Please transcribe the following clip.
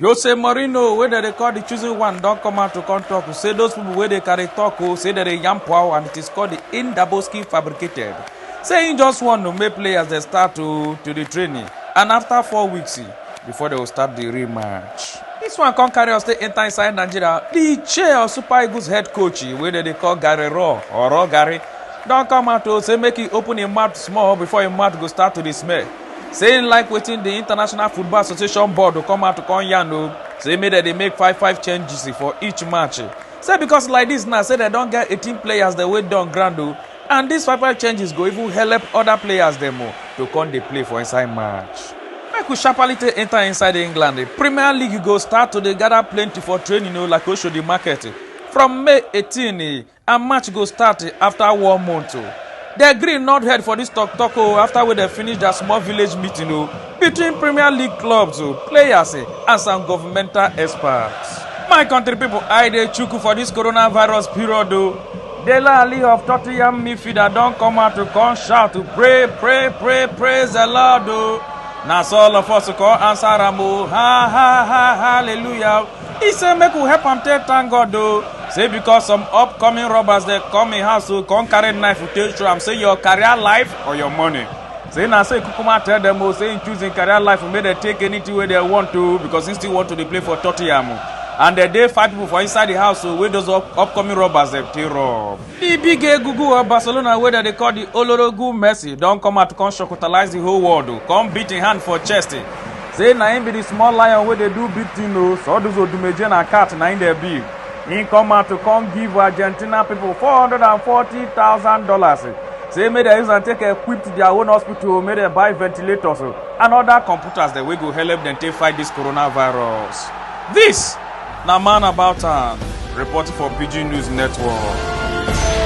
jose mourinho wey dem dey call di chosen one don come out to come tok say those pipo wey dey carry tok o say dem dey yam pow and it is called di indaboski fabricated say im just want to make players dey start to to di training and afta four weeks before dem go start di real match dis one come carry us stay enta inside nigeria di chair of super eagles head coach wey dem dey call gary raw or raw gary don come out to say make e open im mouth small before im mouth go start to dey smell say im like wetin di international football association board go come out to come yarn o say make dem dey make five five changes for each match say because like dis now say dem don get eighteen players dem wey don ground o and dis five five changes go even help oda players dem o to come dey play for inside match. make we sharparly take enter inside england di premier league go start to dey gather plenty for training o like oshodi market from may eighteen and match go start after one month o the green not head for this talk talk o after wey dem finish their small village meeting o between premier league clubs o players eh, and some governmental experts my country people i dey chuku for this coronavirus period o dele ali of tottenham midfielder don come out to come shout to pray pray pray praise the lord o na so all of us come answer am o ha ha ha hallelujah. He say make we help am take thank God o. Say because some upcoming robbers dey come im house o come carry knife take show am say your career life or your money. Say na so Ikukuma tell dem o say im choose im career life make dem take anything wey dem want o because im still want to dey play for Tottenham o. And there dey five people for inside the house o wey those up upcoming robbers dem take rob. Di big egungun of Barcelona wey dem dey call di Olorogun Messi don come out come shocktalize di whole world o, come beat im hand for chest say na im be di small lion wey dey do big thing o, so all those odumeje na cat na im dem be. Im come out to come give Argentina pipo four hundred and forty thousand dollars say make dem use am take equip their own hospital o, make dem buy ventilators o and other computers dem wey go helep dem take fight dis coronavirus. Dis. Na man about am, reporting for Pidgin News Network.